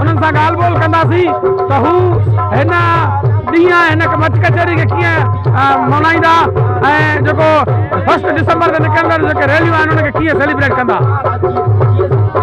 انهن سان ڳالهه ٻولهه ڪنداسين ته هو هن ڏينهن هن مچ ڪچهري کي ڪيئن ملهائيندا ۽ جيڪو فسٽ ڊسمبر تي نڪرندڙ جيڪي ريليون آهن انهن کي ڪيئن سيليبريٽ ڪندا.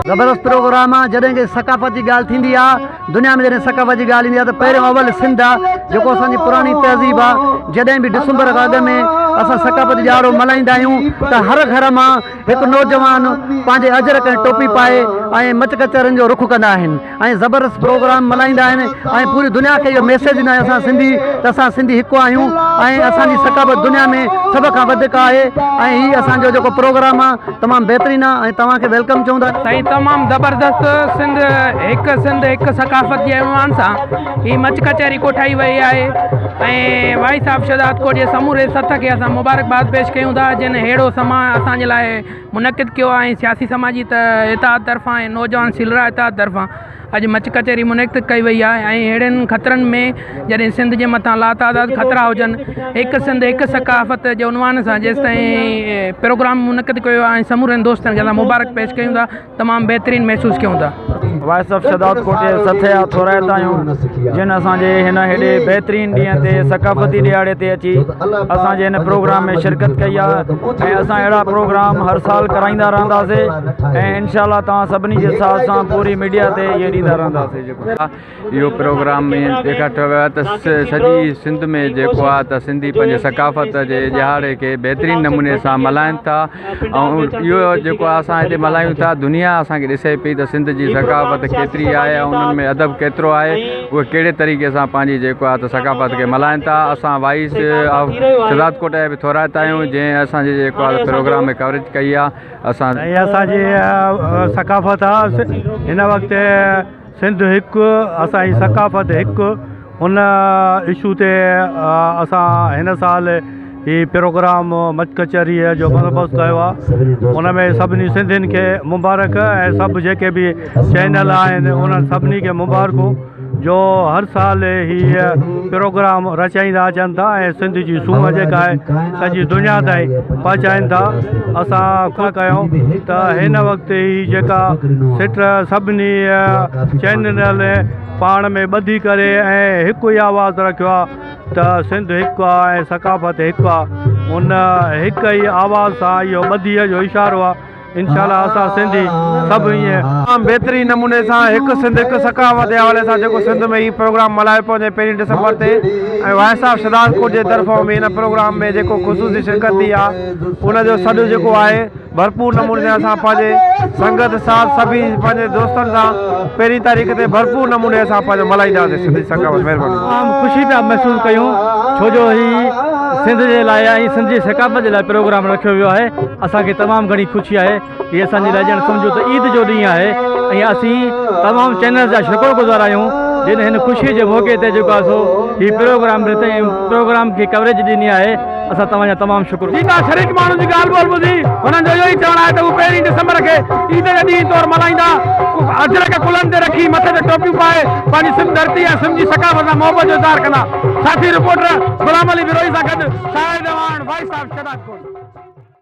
زبردست پروگرام آ جڏهن ڪي ثقافت جي ڳالهه ٿيندي آ دنيا ۾ جڏهن ثقافت جي ڳالهه ايندي آ ته پهريون اول سنڌ آ جيڪو اسان جي پراڻي تهذيب آ جڏهن به ڊسمبر کان اڳ ۾ اسان ثقافت جي ڏهاڙو ملهائيندا آهيون ته هر گهر مان هڪ نوجوان پنهنجي اجرڪ ۽ ٽوپي پائي ۽ مچ ڪچهرين جو رخ ڪندا آهن ۽ زبردست پروگرام ملهائيندا آهن ۽ پوري دنيا کي اهو ميسيج ڏيندا آهن اسان سنڌي ته اسان سنڌي هڪ آهيون ۽ اسان جي ثقافت دنيا ۾ سڀ کان وڌيڪ آهي ۽ هي اسان جو جيڪو پروگرام آهي تمام بهترين آهي ۽ توهان کي ويلڪم چون ٿا. سائين تمام زبردست سنڌ هڪ سنڌ هڪ ثقافت جي عنوان سان هي مچ ڪچهري ڪوٺائي وئي آهي ۽ وائيس آف شهدادڪوٽ جي سموري سٿ کي اسان مبارڪباد پيش ڪيون ٿا جن ههڙو سماء اسان جي لاء منعقد ڪيو آهي ۽ سياسي سماجي اتحاد طرفان ۽ نوجوان شيلرا اتحاد طرفان اڄ مچ ڪچهري منعقد ڪئي وئي آهي ۽ ههڙن خطرن ۾ جڏهن سنڌ جي مٿان لاتعداد خطرا هجن هڪ سنڌ هڪ ثقافت جي عنوان سان جيستائين پروگرام منعقد ڪيو آهي سمورن دوستن کي اسان مبارڪ پيش ڪيون ٿا تمام بهترين محسوس ڪيون ٿا. وائس آف شھداد ڪوٽي سٿيا ٿورائتا آھيون جن اسان جي ھن ھيڏي بهترين ڏينهن تي ثقافتي ڏيھاڙي تي اچي اسان جي ھن پروگرام ۾ شرڪت ڪئي آ ۽ اسان اھڙا پروگرام ھر سال ڪرائيندا رھنداسي ۽ انشاء الله توھان سڀني جي ساٿ سان پوري ميڊيا تي اھي ڏيندا رھنداسي. اهو پروگرام ايئن ڏيکاري ٿو ويو آهي ته سڄي سنڌ ۾ جيڪو آهي ته سنڌي پنهنجي ثقافت جي ڏهاڙي کي بهترين نموني سان ملهائن ٿا ۽ اهو جيڪو آهي اسان هتي ملهايون ٿا دنيا اسان کي ڏسي پئي ته سنڌ جي ثقافت ڪيتري آهي ۽ انهن ۾ ادب ڪيترو آهي اهي ڪهڙي طريقي سان پنهنجي جيڪو آهي ته ثقافت کي ملهائن ٿا اسان وائس آف شهدادڪوٽ جا به ٿورائتا آهيون جنهن اسانجي جيڪو آهي پروگرام ۾ ڪوريج ڪئي آهي اسان ۽ اسانجي ثقافت آهي هن وقت سنڌ هڪ اسان جي ثقافت هڪ هن اشو تي اسان هن سال هي پروگرام مچ ڪچهري جو بندوبست ڪيو آهي ان ۾ سڀني سنڌين کي مبارڪ ۽ سڀ جيڪي به چينل آهن انهن سڀني کي مبارڪون جو هر سال هي پروگرام رچائيندا اچن ٿا ۽ سنڌ جي سونهن جيڪا آهي سڄي دنيا تائين پهچائين ٿا اسان خدا ڪيون ته هن وقت هي جيڪا سٽ سڀني چينلن پاڻ ۾ ٻڌي ڪري ۽ هڪ ئي آواز رکيو آهي ته سنڌ هڪ آهي ۽ ثقافت هڪ آهي ان هڪ ئي آواز سان اهو ٻڌيء جو اشارو آهي انشاء الله اسان سنڌي سڀ ائين تمام بهترين نموني سان هڪ سنڌ هڪ ثقافت جي حوالي سان جيڪو سنڌ ۾ هي پروگرام ملهايو پيو وڃي پهرين ڊسمبر تي ۽ وائس صاحب شهداد ڪوٽ جي طرفان به هن پروگرام ۾ جيڪو خصوصي شرڪت ٿي آهي ان جو سڏ جيڪو آهي ڀرپور نموني سان اسان پنهنجي سنگت ساٿ سڀي پنهنجي دوستن سان پهرين تاريخ تي ڀرپور نموني اسان پنهنجو ملهائينداسين سنڌي ثقافت مهرباني تمام خوشي پيا محسوس ڪيون ڇو جو هي سنڌ جي لاء ۽ سنڌ جي ثقافت جي لاء پروگرام رکيو ويو آهي اسان کي تمام گهڻي خوشي آهي هي اسان جي لاء ڄڻ سمجهو ته عيد جو ڏينهن آهي ۽ اسين تمام چينلز جا شڪر گذار آهيون جن هن خوشي جي موقعي تي جيڪو آهي سو هي پروگرام رٿي ۽ پروگرام کي ڪوريج ڏني آهي اسان توهان جا تمام شڪر جي توهان شريڪ ماڻهن جي ڳالهه ٻولهه ٻڌي هنن جو اهو ئي چوڻ آهي ته هو پهرين ڊسمبر کي عيد جي ڏينهن طور ملهائيندا اجرڪ ڪلهن تي رکي مٿي تي ٽوپيون پائي پنهنجي سنڌ ڌرتي ۽ سنڌ جي ثقافت سان محبت جو اظهار ڪندا ساٿي رپورٽر غلام علي بروهي سان گڏ شاهد اعواڻ وائس آف شهدادڪوٽ